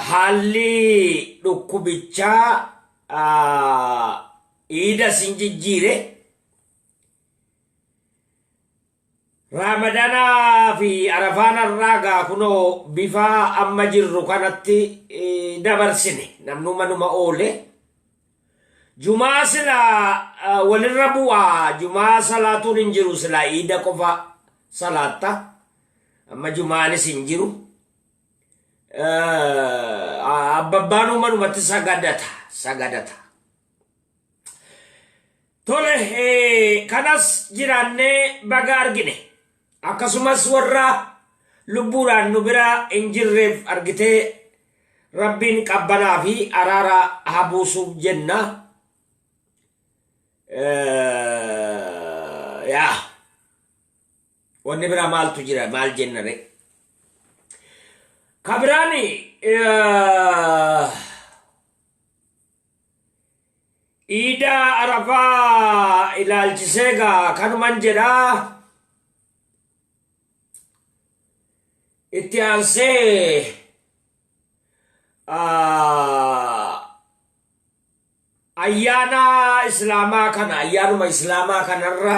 Haalli dhukkubichaa iida sin jijjiire Raamadanaa fi Arafaan har'aa gaa kunoo bifa amma jirru kanatti dabarsine. Namnuu manuma oole. Jumaa sila walirra bu'a. Jumaa salaatuun hin jiru sila iida qofa salaatta. Amma jumaanis hin jiru. Abbabbaan manumatti sagadata. Sagadata. Tole kanas jiraannee baga argine. Akkasumas warra lubbuudhaan nu bira hin jirreef argitee rabbiin qabbanaa fi araara haa buusuuf jenna. Yaa wanni biraa maaltu jira maal jenna ree? Kabiraani Iida Arafaa ilaalchisee gaa kanuman jedhaa itti aansee ayyaana islaamaa kana ayyaanuma islaamaa kanarra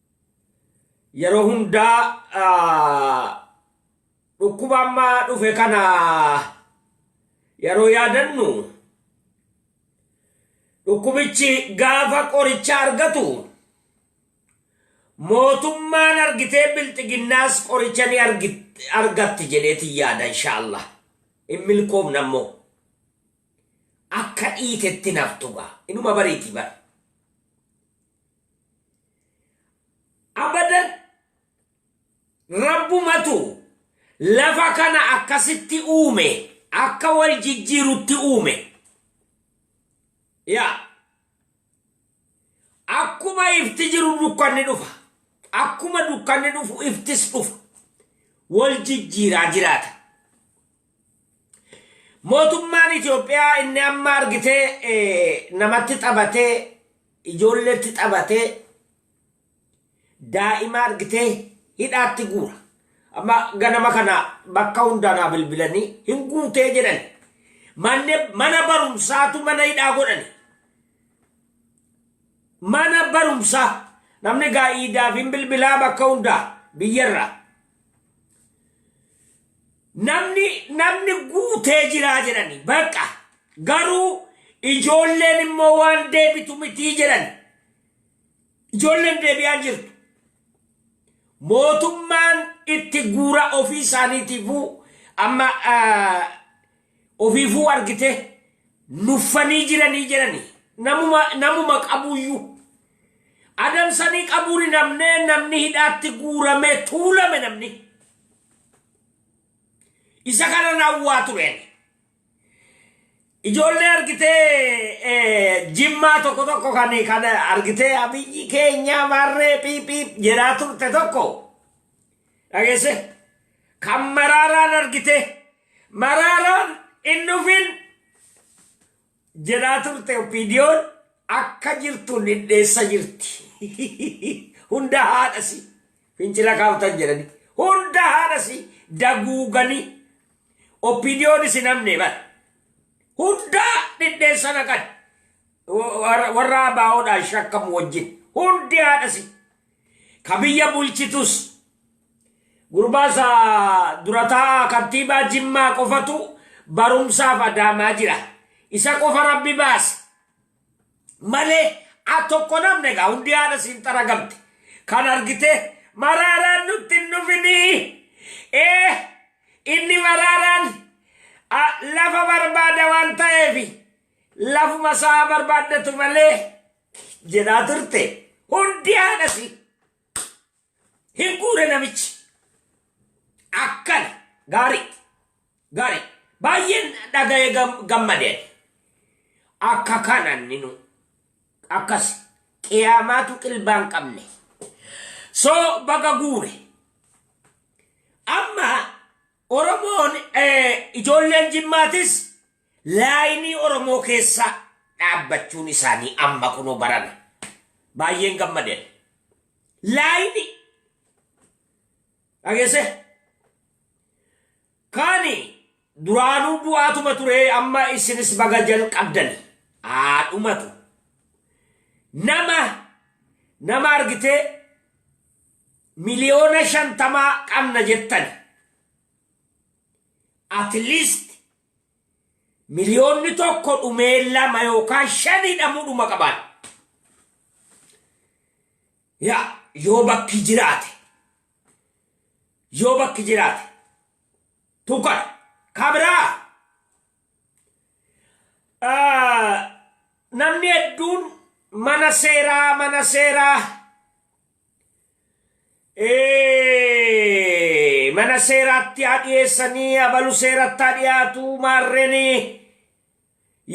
yeroo hundaa dhukkuba amma dhufe kana yeroo yaadannu dhukkubichi gaafa qoricha argatu mootummaan argitee bilxiginnaas qoricha ni argatti jedheeti yaada inshaallah hin milkoofne ammoo akka dhiitetti naftugaa inuma bariiti bar abadan rabbumatu lafa kana akkasitti uume akka wal jijjiirutti uume yaa akkuma ifti jiru dukkanni dhufa akkuma dukkanni dhufu iftis dhufa wal jijjiiraa jiraata Mootummaan Itoophiyaa inni amma argitee namatti taphatee ijoolleetti taphatee daa'ima argitee hidhaatti guura. Amma ganama kana bakka hundaanaa bilbilanii hin guutee jedhan. Mana barumsaatu mana hidhaa godhani. Mana barumsaa namni gaa'iidaaf hin bilbilaa bakka hundaa biyyarraa. Namni namni guutee jiraa jedhani baqa garuu ijoolleen immoo waan deebitu mitii jedhan ijoolleen deebi'aan jirtu mootummaan itti guura ofii isaaniitiifuu amma ah, ofiifuu argite nuffanii jiranii jedhani namuma namuma qabuyyuu adamsanii qabuun namnee namni hidhaatti guuramee tuulame namni. Isa kanan hawwaa tureen. Ijoollee argitee jimmaa tokko tokko kan kan argitee abiyyi keenyaa maarree piiphiip jedhaa turte tokko dhageesse kan maraaraan argitee maraaraan hin dhufin jedhaa turte opiidiyoon akka jirtu dhidheessa jirti. Hunda haadhasi fincila kaaftan jedhani. Hunda haadhasi daguuganii opiidiyoon isin hamne bara. Hunda dhidheessa naqan. Warra warra abaawoodhaan shakkamu wajjin. Hundi haadhasi. Ka biyya bulchitus Gurbaa isa durataa kantiibaa Jimmaa qofatu barumsaaf adaamaa jira. Isa qofa rabbi baase. Malee a tokko namni egaa hundi haadha siin xaragamte. Kan argite maraaraan nutti hin dhufinii. Ee inni maraaraan a, lafa barbaada waan ta'eef lafuma isaa barbaaddatu malee jedhaa turte. Hundi haadha siin. Hin guure namichi. Akkana gaarii gaarii baay'een dhaga'ee gam- gammade. Akka kanaan ninu akkas qiyaamaatu qilbaan qabne. So baga guure. Amma Oromoon eh, ijoolleen jimmaatis laayinii Oromoo keessa dhaabbachuun isaanii amma kunoo barana. Baay'een gammadeen. Laayiti. Dhageessee. Kani duraanuu du'aatuma ture amma isinis baga jalqabdani. Haadhumatu. Nama nama argitee miliyoona shantamaa qabna jettani. At least Miliyoonni tokko dhumee lama yookaan shan hidhamuu dhuma qabaan. Yaa yoo bakki jiraate yoo bakki jiraate tuqan kabiraa namni hedduun mana seeraa mana seeraa Ee, mana seeraatti haa dhiyeessanii abalu seeratti haa dhiyaatu maarreenii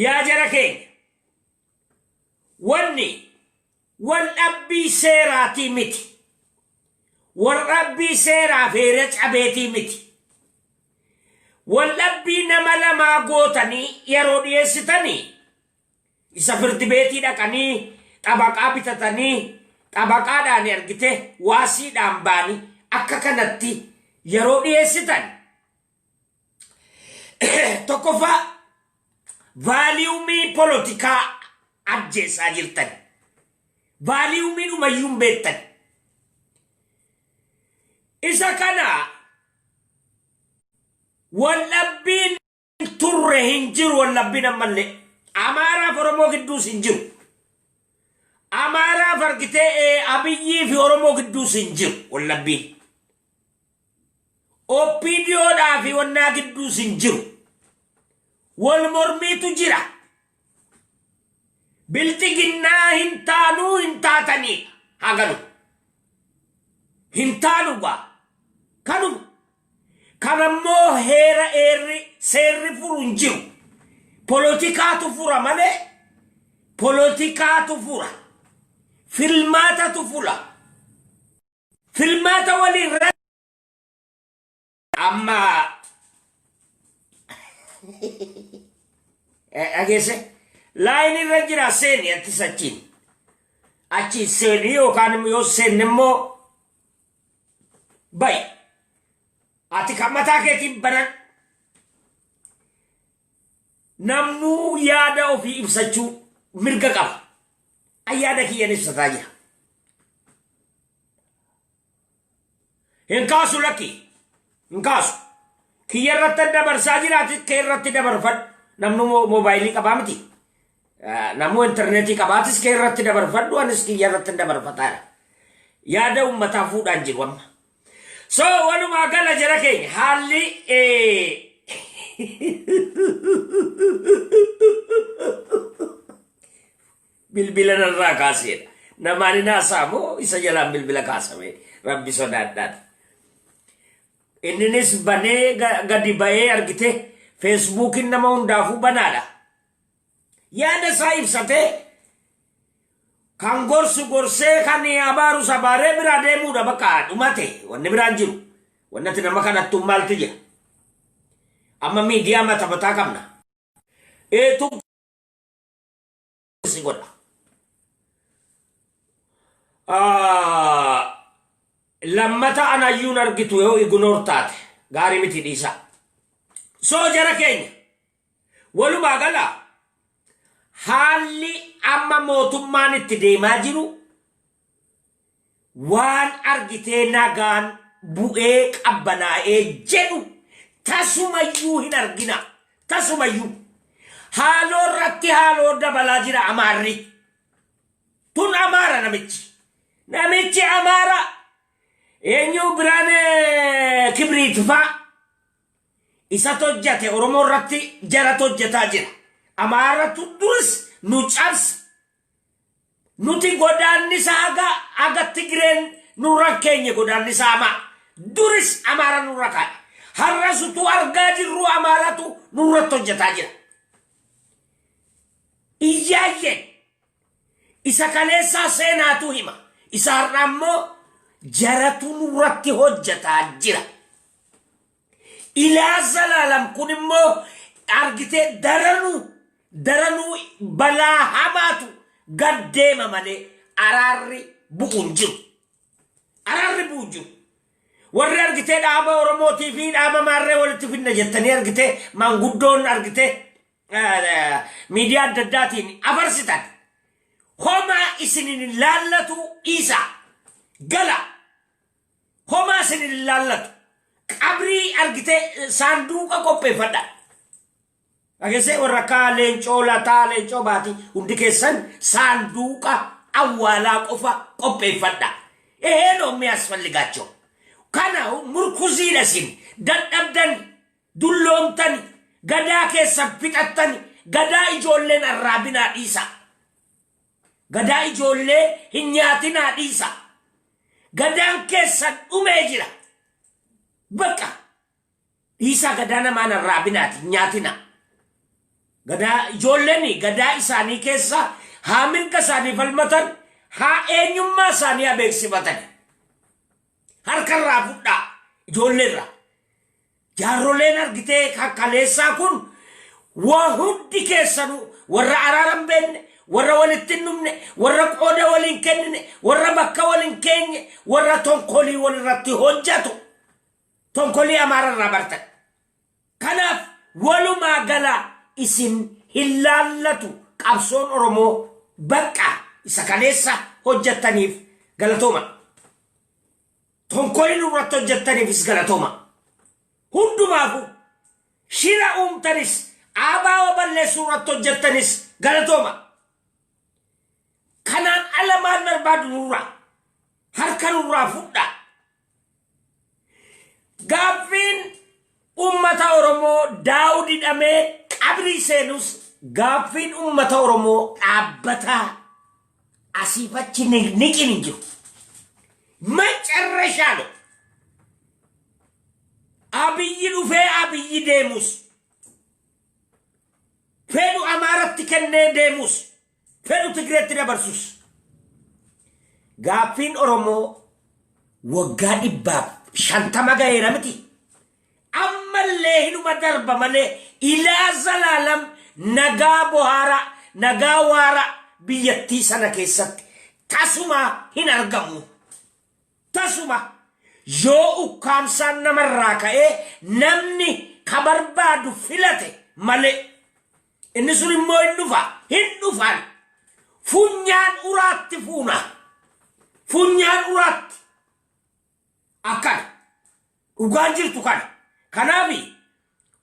yaa jara keenya wanni wal dhabbii seeraatii miti wal dhabbii seeraaf heera cabeetii miti wal dhabbii nama lamaa gootanii yeroo dhiyeessitanii Isa firdi beetii dhaqanii xabaqaa bitatanii xabaqaadhaan argite waasiidhaan baanii akka kanatti yeroo dhiyeessitan tokkoffaa vaaliyumii polotikaa ajjeessaa jirtan. Vaaliyumii dhumayyuu hin beektan. Isa kana waldhabbiin turre hin jiru wallabbiin ammallee. Amaaraa fi Oromoo gidduus hin jiru. Amaaraa fargitee ee, Abiyyii fi Oromoo gidduus hin jiru wallabbiin. OPDOdhaa fi wannaa gidduus hin jiru. Wal mormiitu jira. Bilxiginnaa hin taanuu hin taatanii haa galu. Hin taanu gaa kanuma. Kan ammoo heera eerri seerri furu hin jiru. Polotikaatu fura malee polotikaatu fura. Filmaatatu fula. Filmaata waliin Amma dhageesse laayinii irra jira seeni attis achiin. Achi seeni yookaan immoo yoo seenne immoo bayi. Ati kan mataa keetiin banan namnuu yaada ofii ibsachuu mirga qaba. An yaada kiyyaan ibsataa jira. hin kaasu lakki hin kaasu kiyya irratti dabarsaa jiraati kee irratti dabarfadhu namnu moobaayilii qabaa miti namuu intarneetii qabaatis kee irratti dabarfadhu anis kiyya irratti dabarfataadha yaada ummataa fuudhaan jiru amma so walumaa gala jira keenya haalli Bilbila narraa kaaseedha. Namaan hin haasaa moo isa jalaan bilbila kaasame rabbi sodaadhaan. Inninis banee ga- gadi ba'ee argite feesbuukiin nama hundaafuu banaadha. Yaada isaa ibsatee kan gorsu gorsee kan abaarus abaaree biraa deemuudha bakka dhumate wanni biraan jiru. Wannati nama kadhattuun maaltu jira? Amma miidiyaa mata mataa qabna. Ee, tun si godha. Ah, Lammata an hayyuun argitu yoo ignoor taate gaarii miti dhiisaa. Soo jara keenya walumaa gala haalli amma mootummaan itti deemaa jiru waan argitee nagaan bu'ee qabbanaa'ee jedhu tasumayyuu hin argina tasumayyuu haaloo irratti haaloo dabalaa jira amaarri tun amaara namichi namichi amaara eenyu biraan eh, kibriit faa isatu hojjate oromoo irratti jaratu hojjataa jira amaaratu duris nu cabse Nuti godaannisa haga haga Tigreen nurra hin keenye godaannisa hamaa. Duris Amaara nurra kaa'e. Har'as utuu argaa jirruu Amaaratu nurratti hojjetaa jira. Iyyaayyeen isa kaleessaa seenaatu hima. Isa har'aa immoo jaratu nurratti hojjetaa jira. Ilaa zalaalam kun immoo argitee daranuu daranuu balaa hamaatu gad deema malee araarri bu'u hin jiru. Araarri bu'u hin jiru. Warri argitee dhaaba Oromootii fi dhaaba maarree walitti fidna jettanii argitee maanguddoon argitee miidiyaa adda addaatiin afarsitan. Homaa isinin laallatu dhiisaa. Gala. Homaa isin hin ilaallatu. Qabrii argitee eh, saanduuqa qopheeffadha. Dhageessee warra akka leencoo lataa leencoo baatii hundi keessan saanduuqa awwaalaa qofa qopheeffadha. Eheen ommii asfalligaachoo. Kana murkuziidha isin dadhabdan dulloomtan gadaa keessan fixattan gadaa ijoolleen arraabinaa dhiisa. Gadaa ijoollee hin nyaatinaa dhiisaa. Gadaan keessan dhumee jira. Bakka dhiisaa gadaa namaa hin arraabinaati hin nyaatinaa. Gadaa ijoolleen gadaa isaanii keessa haa mirga isaanii falmatan haa eenyummaa isaanii haa beeksifatan. Harkarraa fudhaa ijoolleerraa. Jaarroleen argitee ka kaleessaa kun waa hundi keessanuu warra araara hin beekne, warra walitti hin dhumne, warra qooda wal hin kennine, warra bakka wal hin keenye, warra tonkolii wal irratti hojjatu. Tonkolii Amaara irraa bartan. Kanaaf walumaa gala isin hin laallatu qabsoon Oromoo baqqa isa kaleessa hojjattaniif galatooma. Tonkoli nurratti hojjettaniifis galatooma. Hundumaafu shira uumtanis ABO balleessuu irratti hojjettanis galatooma. Kanaan ala maal barbaadu nurraa? Harka nurraa fudhaa. Gaaffiin Ummata Oromoo Daawud hidhamee qabrii seenus gaaffiin ummata Oromoo dhaabbataa asiif achi niqniqiin hin jiru. Macarrashaa lo Abiyyi dhufee Abiyyi deemus fedhu Amaaratti kennee deemus fedhu Tigreetti dabarsus gaaffiin Oromoo waggaa dhibbaaf shantama gaheera miti. Ammallee hinuma darba malee ilaa zalaalam nagaa bohaara nagaa waara biyyattii sana keessatti tasuma hin argamu. Tasuma yoo ukkaamsaan namarraa ka'ee namni ka barbaadu filate malee Inni sun immoo hin dhufa, hin dhufan. Funyaan uraatti fuuna. Funyaan uraatti. Akkana. Dhugaan jirtu kana. Kanaaf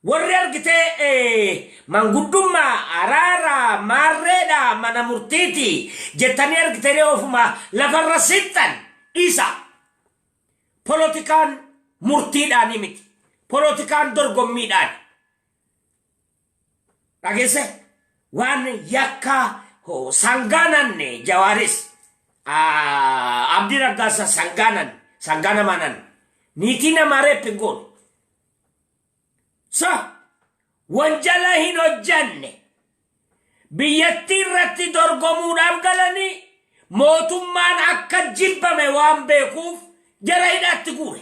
warri argitee eh, manguddummaa araara maarreedha mana murtiiti jettanii argitanii ofuma lafarra sixxan dhiisa. Polotikaan murtiidhaanii miti. Polotikaan dorgommiidhaani. Dhageesse waan yakka ho- sangaa nanne jawaaris ah, abdii raggaasa sangaa nan sangaa namaa nan niitii namaa reeppi goon so wanjala hin hojjanne biyyattii irratti dorgomuudhaaf galanii mootummaan akka jibbame waan beekuuf jara hidhaatti guure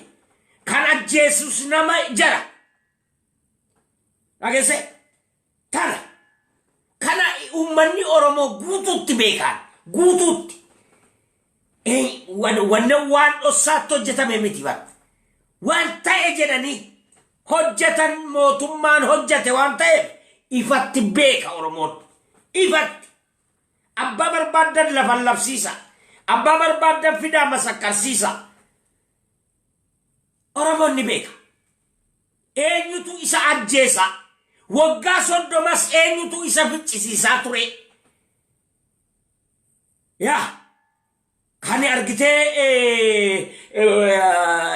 kan ajjeesus nama jara Dhageesse tana kana uummanni Oromoo guutuutti beekaan guutuutti wanna waan dhossaatti hojjetame miti bara. Waan ta'e jedhanii hojjetan mootummaan hojjete waan ta'eef ifatti beeka Oromoon. Ifatti abbaa barbaadan lafan labsiisa. Abbaa barbaadan fidaa masakkarsiisa. Oromoon ni beeka. Eenyutu isa ajjeesa? Waggaa soddomas eenyutu isa ficcisiisaa ture? Yaa kan argitee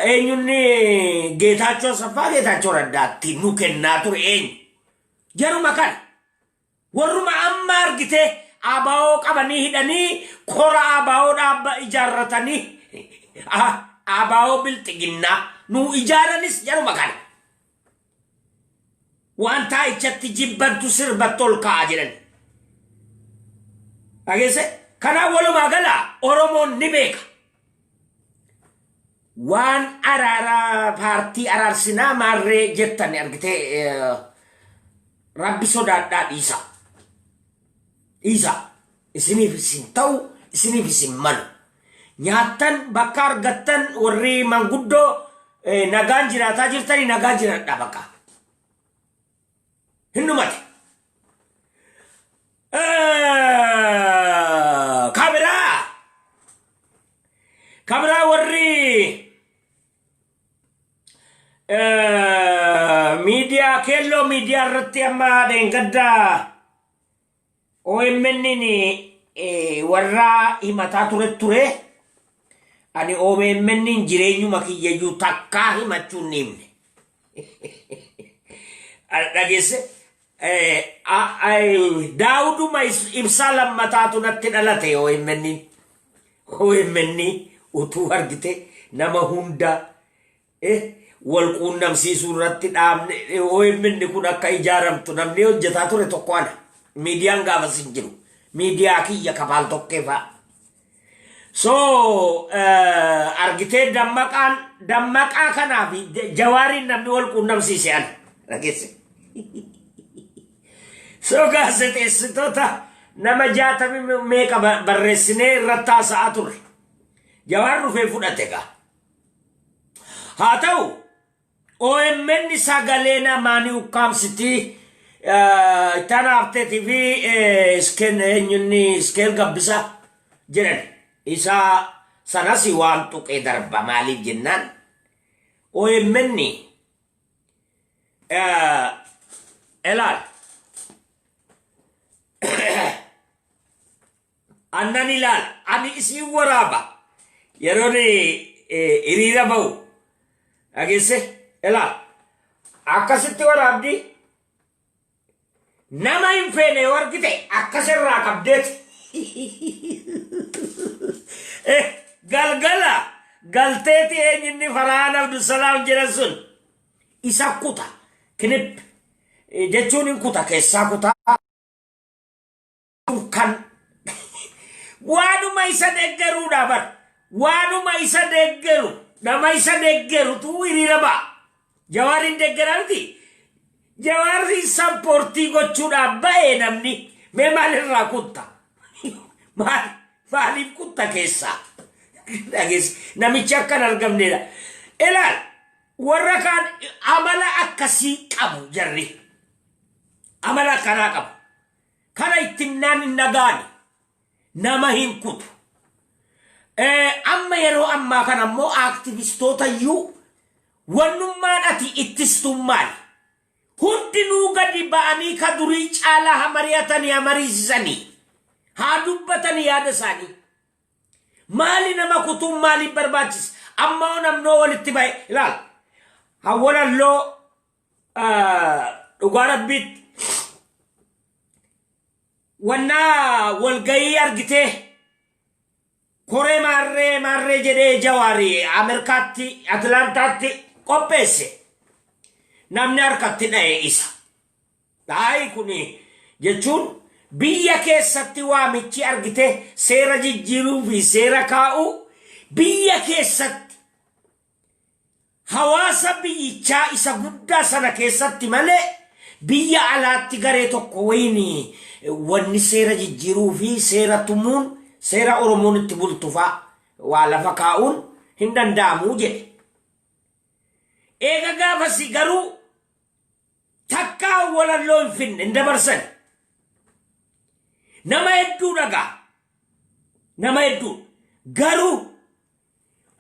eenyunni Geetaachoo Saffaa Geetaachoo Raddaatti nu kennaa ture eenyu? Jaruma kana. Warruma amma argite abo qabanii hidhanii kora abo dhaabba ijaarratanii abo bilxiginnaa nuu ijaaranis jaruma kana. Waan taa'ichatti jibbantu sirbatti ol ka'a jedhani. Dhageesse kanaa walumaa gala Oromoon ni beeka. waan araara paartii araarsinaa maarree jettan argitee eh, rabbi sodaadhaa dhiisa dhiisa isiniif isin ta'u isiniif isin malu nyaattan bakka argattan warri manguddoo eh, nagaan jiraataa jirtanii nagaa jiraadhaa bakka hin dhumate. Kabiraa kabiraa warri miidiyaa keelloo miidiyaa irratti amma dheengaddaa OMNn warra himataa ture ture ani OMNn jireenyuma kiyyayyuu takkaa himachuun ni himne. Dhageesse daawuduma ibsaa lammataatu natti dhalate OMNn. OMN utuu argite nama hunda wal quunnamsiisuu irratti dhaabne OMN kun akka ijaaramtu namni hojjetaa ture tokko ana. Miidiyaan gaafas hin jiru. Miidiyaa kiyya kafaal tokkee fa'a. So argitee dammaqaan dammaqaa kanaa fi jawaariin namni wal quunnamsiise ana. Dhageesse. So gaazexeessitoota nama jaatami meeqa barreessinee irratti haasa'aa ture. Jawaar dhufee fudhate gaa. Haa ta'u OMN sagalee namaa ni ukkaamsiti eh, itti aanaa Habteetii fi eh, Iskeen eenyunni Iskeel Gabbisa jedhan. Isa sanas waan tuqee darba maaliif jennaan OMN eh, ilaal. annan ilaala ani isiin waraaba yeroon eh, hiriira ba'u dhageesse ilaala akkasitti waraabdi nama hin feene yoo argite akkas irraa qabdeeti Eh, galgala galteeti eenyinni faraan abdusalaam jedhan sun isa kuta kinip eh, jechuun hin kuta keessaa kutaa kan waanuma isa deeggaruudha bar waanuma isa deeggaru nama isa deeggarutu hiriira ba'a jawaariin deeggaraa miti jawaarri sappoortii gochuudhaaf ba'ee namni mee maalirraa kutta maal maaliif kutta keessaa dhageessi namichi akka hin argamneedha ilaal warra kaan amala akkasii qabu jarri amala akkanaa qabu Kana itti himnaan hin dhagaane. Nama hin kutu. Amma yeroo ammaa kana immoo aaktivistoota iyyuu wannummaan ati ittistuun maali? Hundinuu gadi ba'anii ka durii caalaa ha mari'atanii ha mariisisanii haa dubbatanii yaada isaanii. Maali nama kutuun maaliif barbaachisa? Amma hoo namnoo walitti ba'e ilaala. Hawwalalloo dhugaa rabbiitti wannaa walgayii argitee koree maarree maarree jedhee jawaari ameerikaatti atilaantaatti qopheesse namni harkatti dha'e isa dhaayi kun jechuun biyya keessatti waamichi argite seera jijjiiruu fi seera kaa'uu biyya keessatti Hawaasa biyyichaa isa guddaa sana keessatti malee biyya alaatti garee tokko wayiin wanni seera jijjiiruu fi seera tumuun seera Oromoon itti bultu fa'a waa lafa kaa'uun hin danda'amu jedhe. Eega gaafasii garuu takkaa walalloo hin finne hin dabarsani. Nama hedduu dhagaa. Nama hedduu. Garuu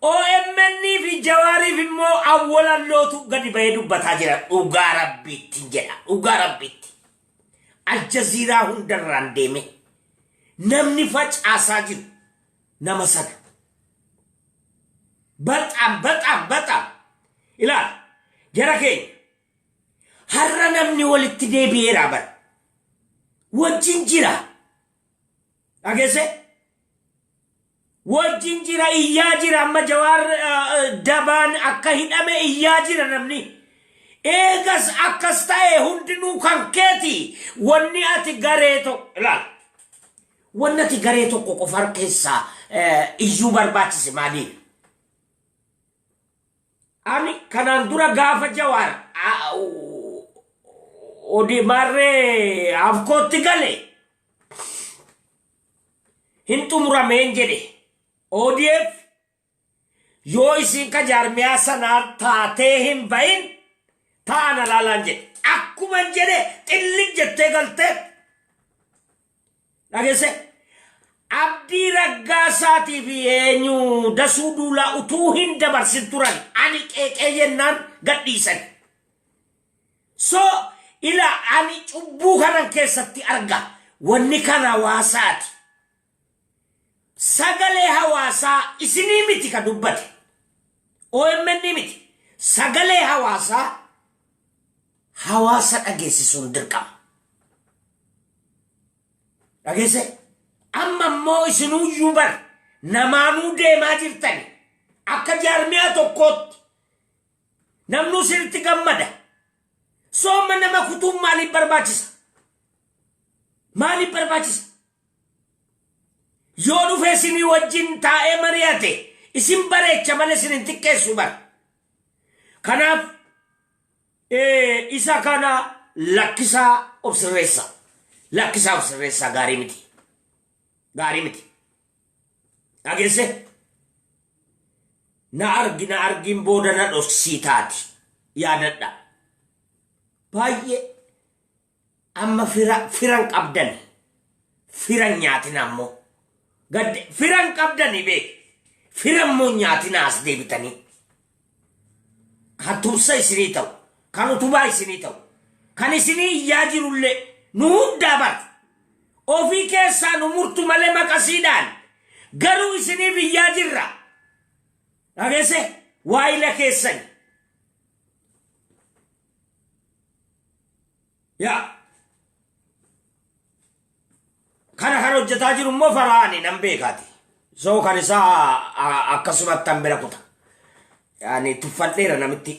OMN fi Jawaariif immoo awwalallootu gadi bahee dubbataa jira. Dhugaa rabbiitti jedha. Dhugaa rabbiitti. Aljaziiraa hundarraan deeme. Namni facaasaa jiru nama sana. Baxaam baxaam baxaam. Ilaal jara keenya. Har'a namni walitti deebi'eeraa bara. Wajjin jira. Dhagesse? Wajjin jira iyyaa jira amma jawaar dabaan akka hidhame iyyaa jira namni. Eegas akkas ta'e hundinuu kan keeti wanni ati garee tokko ilaal. Wanni ati garee tokko qofa keessaa iyyuu barbaachise maaliidha? Ani kanaan dura gaafa jawaar odimaarree afkootti gale hin xumurameen jedhe ODF yoo isiin ka jaarmiyaa sanaa taatee hin bahin taa'an alaalaan jedhe akkuman jedhe xillig jettee galtee Dhagesse abdii raggaasaatii fi eenyu dasuu duulaa utuu hin dabarsin turan ani qeeqee jennaan gadhiisan. So ila ani cubbuu kanan keessatti arga wanni kan hawaasaati. Sagalee hawaasaa isinii miti ka dubbate. OMN miti. Sagalee hawaasaa hawaasa dhageessisuun dirqama. Dhageesse amma immoo isinuu iyyuu bar namaanuu deemaa jirtani akka jaarmiyaa tokkootti namnuu isinitti gammada. Sooma nama kutuun maaliif barbaachisa? Maaliif barbaachisa? Yoo dhufee isinii wajjin taa'ee mari'ate isin bareecha malee isin hin xiqqeessu bara. Kanaaf Ee isa kana lakkisaa of sirreessa. Lakkisaa of sirreessaa gaarii miti. Gaarii miti. Dhageesse? Na argi na argiin booda na dhoksii taati. Yaadadha. Baay'ee Amma fira firan qabdan firan nyaatina ammo gadde firan qabdani be firan mo nyaatina as deebitanii kan tumsa isinii ta'u kan utubaa isinii ta'u kan isinii iyyaa jirullee nu hundaa bar ofii keessaa nu murtu malee maqasiidhaan garuu isiniif iyyaa jirra dhageesse waayila keessani yaa kana kan hojjetaa jiru immoo faraani nan beekaati soo kan isaa a- akkasumatti an bira kuta yaani tuffadheera namitti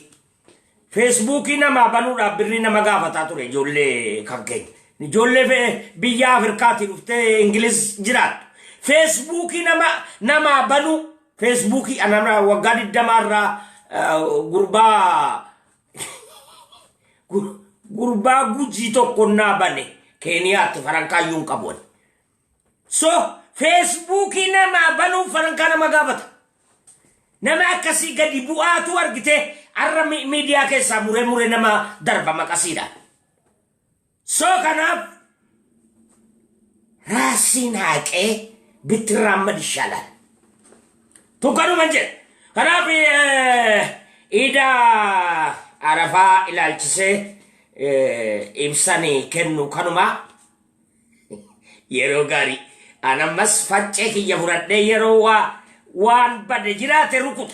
feesbuukii namaa banuudhaaf birrii nama gaafataa ture ijoollee kan keenya ijoollee fe- biyya afrikaatii dhuftee ingiliz jiraattu feesbuukii nama namaa banuu feesbuukii anamra waggaa digdamaa irraa eh, gurbaa Gu- Gurbaa gujii tokko naa bane keeniyaatti farankaayyuu hin qabu ani. So feesbuukii namaa banuuf farankaa nama gaafata. Nama akkasii gadi bu'aatu argitee har'a mi- miidiyaa keessaa muree muree nama darba maqasiidhaan. Soo kanaaf raasiin haaqee bittirraan mad ishaalaan. Tun kanuma jedha. Kanaaf iida arafaa ilaalchisee ibsanii kennu kanuma yeroo gaarii. An ammas faccee kiyya fudhadhee yeroo waa waan bade jiraate rukuta.